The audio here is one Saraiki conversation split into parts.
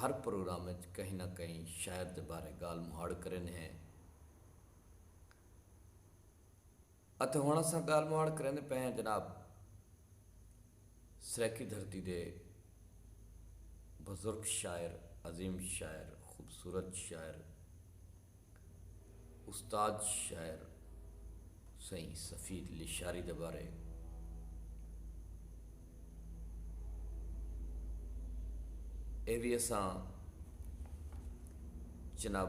ہر پروگرام اچ کہیں نہ کہیں شاعر دے بارے گالھ مہاڑ کریندے ہیں اتے ہنڑ اساں گالھ مہاڑ کریندے پئے ہیں جناب سرائیکی دھرتی دے بزرگ شاعر، عظیم شاعر، خوبصورت شاعر، استاد شاعر سئیں سفیر لشاری دے بارے اے وی اساں جناب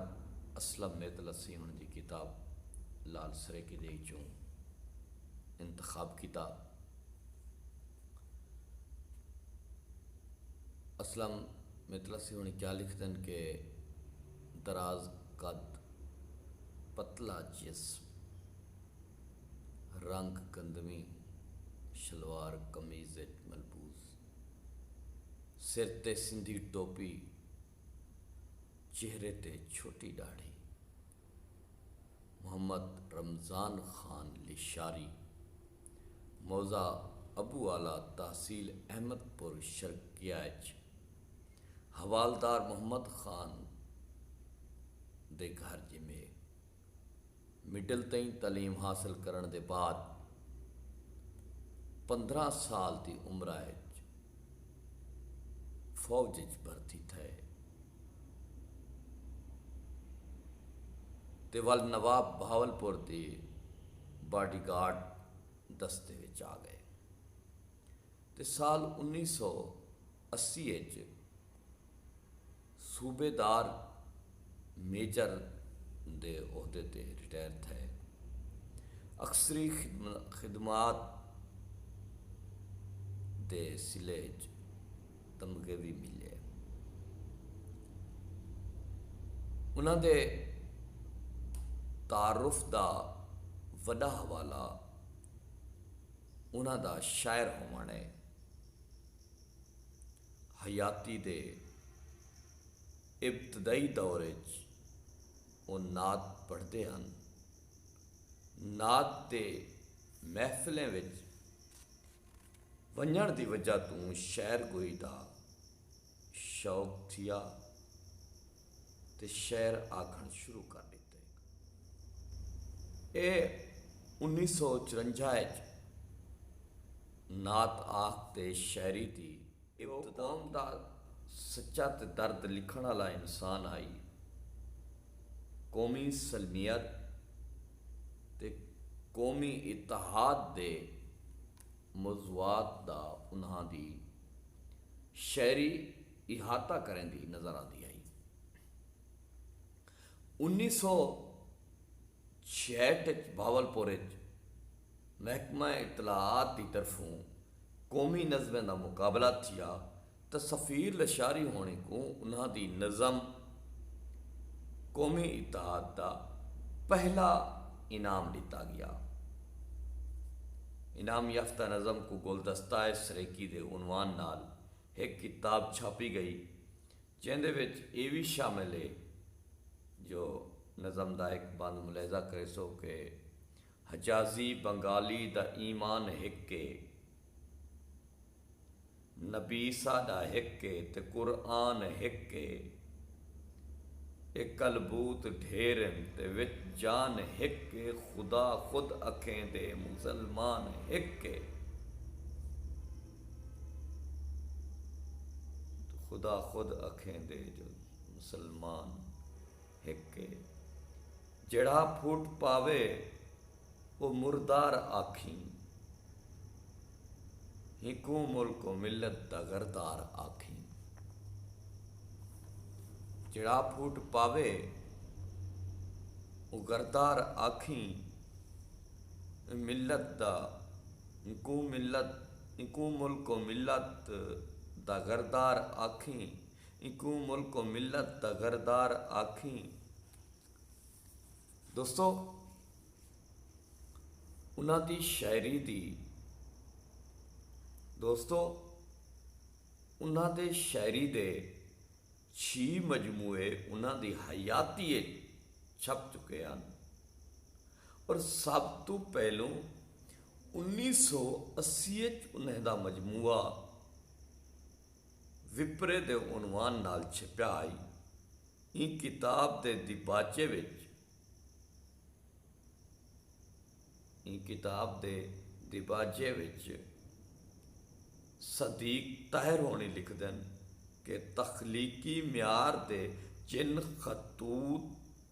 اسلم میتلا سیون دی کتاب لال سریکے دے اچوں انتخاب کیتا اسلم میتلا سیون کیا لکھدن کہ دراز قد، پتلا جسم، رنگ گندمی شلوار قمیض اچ ملبوس، سر تے سندھی ٹوپی، چہرے تے چھوٹی ݙاڑھی، محمد رمضان خان لشاری، موضع ابو اعلی تحصیل احمد پور شرقیہ اچ، حوالدار محمد خان دے گھر ڄمے۔ مڈل تئیں تعلیم حاصل کرݨ دے بعد پندرھاں سال دی عمرا اچ فوج اچ بھرتی تھئے تے ول نواب بہاولپور دے باڈی گارڈ دستے وچ آ ڳئے تے سال انیس سو اسی اچ صوبے دار میجر دے عہدے تے ریٹائر تھئے۔ اکثری خدمات دے صلے اچ تمغے وی ملے۔ انہاں دے تعارف دا وݙا حوالہ انہاں دا شاعر ہووݨ اے۔ حیاتی دے ابتدائی دور اچ او نعت پڑھدے ہن۔ نعت تے محفلیں وچ ونجنڑ دی وجہ توں شعر گوئی دا شوق تھیا۔ تے شعر آکھݨ شروع کر ݙتے۔ ایہ انیس سو چرنجا اچ نعت آکھ تے شاعری دی ابتدا تھئی۔ او قوم دا سچا تے درد لکھݨ آلا انسان ہئی۔ قومی سلمیت تے قومی اتحاد دے موضوعات دا انہاں دی شاعری احاطہ کریندی نظر آندی ہئی۔ انیس سو چھیہٹ اچ بہاولپور اچ محکمہ اطلاعات دی طرفوں قومی نظمیں دا مقابلہ تھیا تاں سفیر لشاری ہوݨیں کوں انہاں دی نظم قومی اتحاد دا پہلا انعام ݙتا ڳیا۔ انعام یافتہ نظم کوں گلدستہ سریکی دے عنوان نال ہک کتاب چھاپی گئی جیندے وچ ایہ وی شامل ہے جو نظم دا ہک بند ملاحظہ کریسو کہ حجازی بنگالی دا ایمان ہک ہے، نبی ساݙا ہک ہے تے قرآن ہک ہے۔ اے کلبوت ڈھیر ہن تے وچ جان ہک اے خدا خود اکھیں دے مسلمان ہک اے خدا خود اکھیں دے جو مسلمان ہک اے جیڑھا پھوٹ پاوے او مردار آکھیں ہکوں ملک و ملت دا غردار آکھیں جیڑھا پھوٹ پاوے او غردار آکھیں ملت دا ہکوں ملت ہکوں ملک و ملت دا غردار آکھیں ہکوں ملک و ملت دا غردار آکھیں۔ دوستو انہاں دی شاعری دی دوستو انہاں دے شاعری دے چھی مجموعے انہاں دی حیاتی چھپ چکے ہیں اور سب تو پہلو انیس سو اسی انہیں دا مجموعہ وپرے دے عنوان نال چھپیا ہئی۔ ایں کتاب دے دیباچے وچ ایں کتاب دے دیباچے وچ صدیق طاہر ہونی لکھدن کہ تخلیقی معیار دے جن خطوط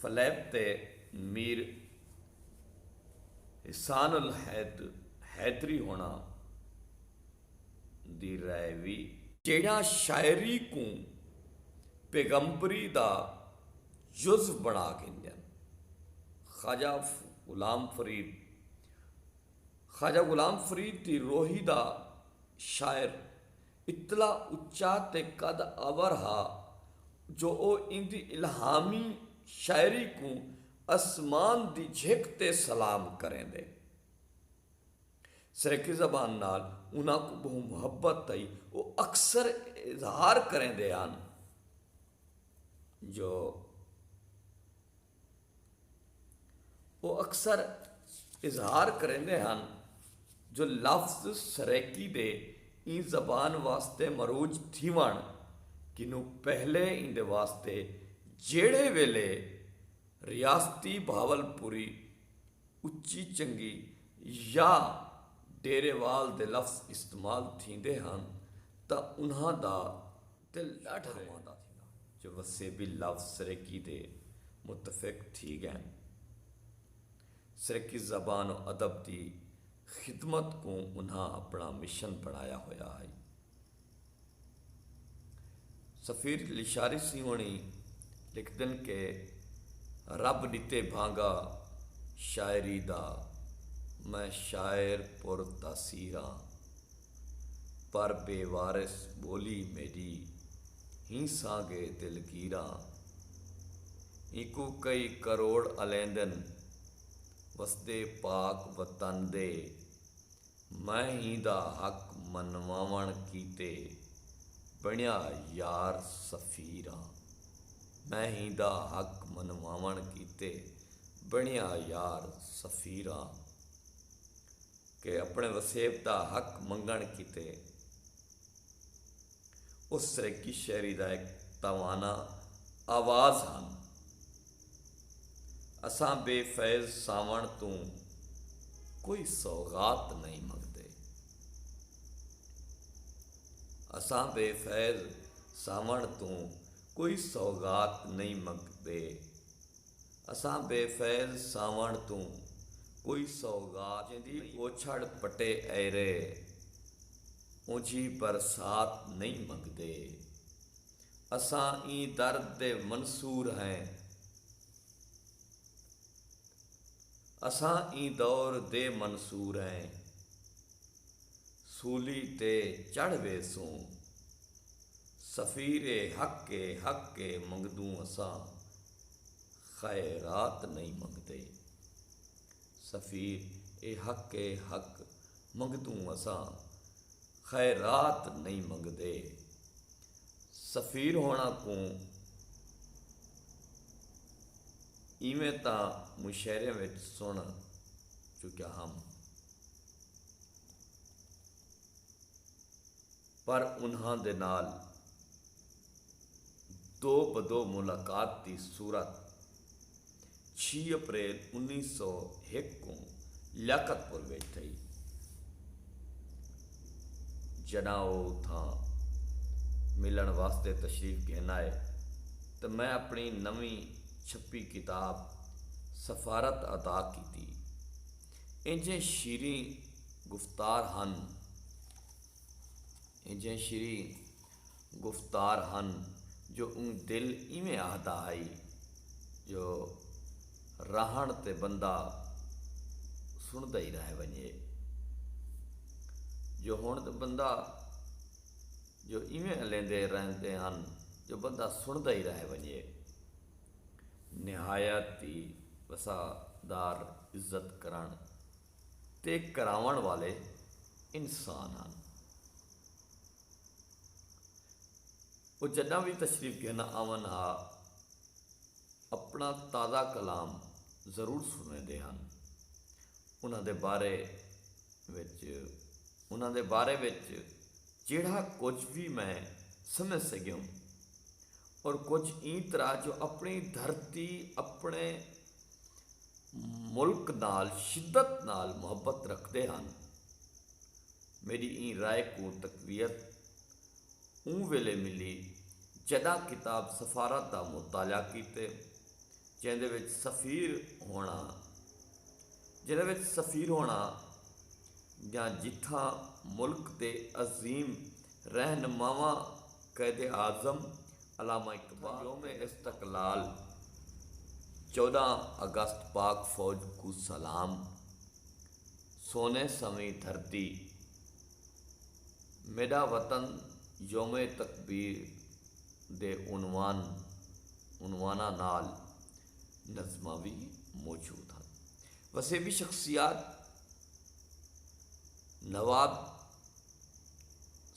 فلیپ تے میر حسان الحیدری ہوݨاں دی رائے وی۔ جیڑھاں شاعری کوں پیغمبری دا جز بݨا گھندن۔ خواجہ غلام فرید خواجہ غلام فرید دی روہی دا شاعر اتلا اچا تے قد آور ہا جو او ایندی الہامی شاعری کوں اسمان دی جھک تے سلام کریندے۔ سرائیکی زبان نال انہاں کوں ٻہوں محبت ہئی۔ او اکثر اظہار کریندے ہن جو۔ او اکثر اظہار کریندے ہن جو لفظ سرائیکی دے ایں زبان واسطے مروج تھیوݨ کنوں پہلے ایندے واسطے جیڑھے ویلھے ریاستی بھاولپوری اچی چنگی یا ڈیرے وال دے لفظ استعمال تھیندے ہن تاں انہاں دا تے لاڈھا ماندا تھیندا۔ جو وسیبی لفظ سرائیکی دے متفق تھی گئن۔ سرائیکی زبان و ادب دی خدمت کوں انہاں اپنڑاں مشن بنڑایا ہویا ہئی۔ سفیر لشاری سیں ہوڑیں لکھدن کہ رب ڈتے بھانگا شاعری دا میں شاعر پر تاثیر آں۔ پر بے وارث ٻولی میݙی ہی سانگے دلگیراں اینکوں کئی کروڑ الیندن وسدے پاک وطن دے میں ہیندا حق منواوݨ کیتے بݨیا یار سفیراں میں ہیندا حق منواوݨ کیتے بݨیا یار سفیراں۔ کہ اپݨے وسیب دا حق منگݨ کیتے او سرائیکی شہری دا ہک توانا آواز ہن۔ اساں بے فیض ساوݨ توں کوئی سوغات نئیں منگدے۔ اساں بے فیض ساوݨ توں کوئی سوغات نئیں منگدے۔ اساں بے فیض ساوݨ توں کوئی سوغات نئیں گھدی۔ جیندی اوچھڑ پٹے ایرے اونجھی برسات نئیں منگدے۔ اساں ایں درد دے منصور ہیں۔ اساں ایں دور دے منصور ہیں۔ سولی تے چڑھ ویسوں۔ سفیر حق اے حق اے منگدوں اساں خیرات نئیں منگدے۔ سفیر اے حق اے حق منگتوں اساں خیرات نئیں منگدے۔ سفیر ہوݨاں کوں ایویں تاں مشاعریاں وچ سݨ چکیا ہم پر انہاں دے نال دو بدو ملاقات دی صورت چھی اپریل انیس سو ہک کوں لیاقت پور وچ تھئی جڈاں او اتھاں ملنڑ واسطے تشریف گھن آئے تاں میں اپنڑی نویں چھپی کتاب سفارت ادا کیتی اینجھے شیریں گفتار ہن اینجھے شیریں گفتار ہن جو اوں دل ایویں آہدا ہئی جو راہنڑ تے بندہ سنڑدا ای رہ ونجے۔ جو ہنڑ تے بندہ جو ایویں الیندے رہندے ہن جو بندہ سنڑدا ای رہ ونجے۔ نہایت ای وسعدار عزت کرنڑ تے کراوݨ والے انسان ہن۔ او جݙاں وی تشریف گھن آون ہا اپݨا تازہ کلام ضرور سݨویندے ہن۔ انہاں دے بارے وچ انہاں دے بارے وچ جیڑھا کجھ وی میں سمجھ سڳیوں اور کجھ ایں طرح جو اپݨی دھرتی اپݨے ملک نال شدت نال محبت رکھدے ہن، میݙی ایں رائے کوں تقویت اوں ویلے ملی جݙاں کتاب سفارت دا مطالعہ کیتے جیندے وچ سفیر ہوݨا جیندے وچ سفیر ہوݨا یا جتھاں ملک دے عظیم رہنماواں قائد اعظم علامہ اقبال یوم استقلال چوداں اگست پاک فوج کوں سلام سونے سویں دھرتی میڈا وطن یوم تکبیر دے عنوان عنواناں نال نظماں وی موجود ہن وسیبی شخصیات نواب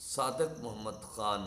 صادق محمد خان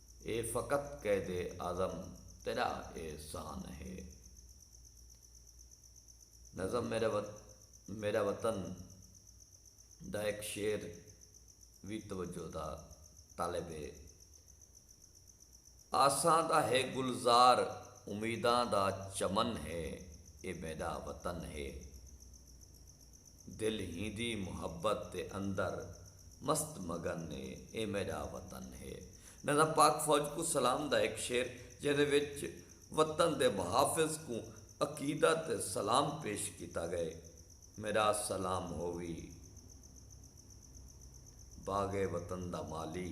اے فقط قید اعظم تیݙا احسان ہے۔ نظم میرا وط میرا وطن دا ہک شعر وی توجہ دا طالب ہے۔ آساں دا ہے گلزار امیداں دا چمن ہے اے میݙا وطن ہے۔ دل ہیندی محبت دے اندر مست مگن ہے اے میڈا وطن ہے نذا پاک فوج کوں سلام دا ہک شعر جیندے وچ وطن دے محافظ کوں عقیدہ تے سلام پیش کیتا گئے میڈا سلام ہووی باغ وطن دا مالی۔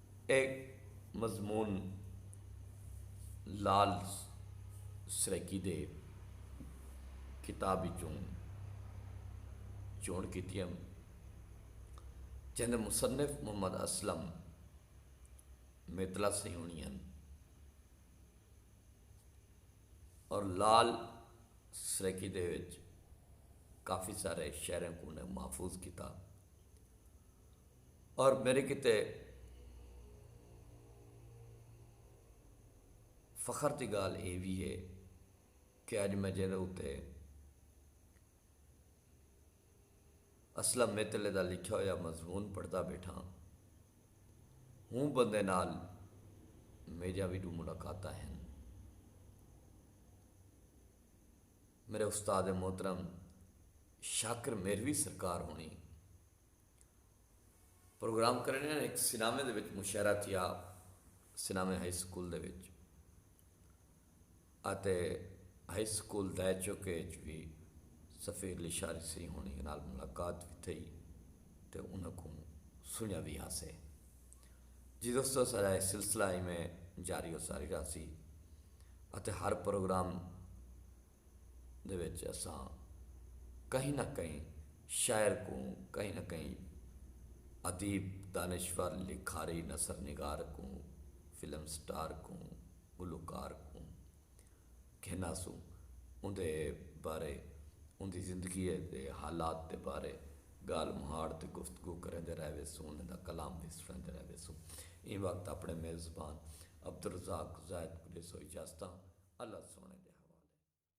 اے مضمون لعل سرائیکی دے کتاب وچوں چونڑ کیتی ہن جیندے مصنف محمد اسلم میتلا سیہونی ہن اور لعل سرائیکی دے وچ کافی سارے شعراں کوں انہیں محفوظ کیتا۔ اور میرے کیتے فخر دی گالھ اے وی اے کہ اج میں جیندے اتے اسلم میتلے دا لکھیا ہویا مضمون پڑھدا بیٹھاں ہوں بندے نال میڈیاں وی ڈو ملاقاتاں ہن میرے استاد محترم شاکر میروی سرکار ہونی پروگرام کرݨیاں ہن ہک سینامے دے وچ مشاعرہ تھیا سینامے ہائی سکول دے وچ اتے ہائی سکول دائے چوکے اچ وی سفیر لشاری سئیں ہوݨی نال ملاقات وی تھئی تے انہاں کوں سنڄا وی ہاسے جی دوستو سارا اے سلسلہ ایویں جاری و ساری رہسی اتے ہر پروگرام دے وچ اساں کہیں نہ کہیں شاعر کوں کہیں نہ کہیں ادیب، دانشور، لکھاری، نثر نگار کوں فلم سٹار کوں گلوکار کوں گھناسوں اوندے بارے اوندی زندگی دے حالات دے بارے گالھ مہاڑ تے گفتگو کریندے رہ ویسوں انہاں دا کلام وی سنڑیندے رہ ویسوں ایں وقت اپنڑے میزبان عبدالرزاق زاہد کوں ڈیسوں اجازتاں اللہ سوہنڑے دے حوالے۔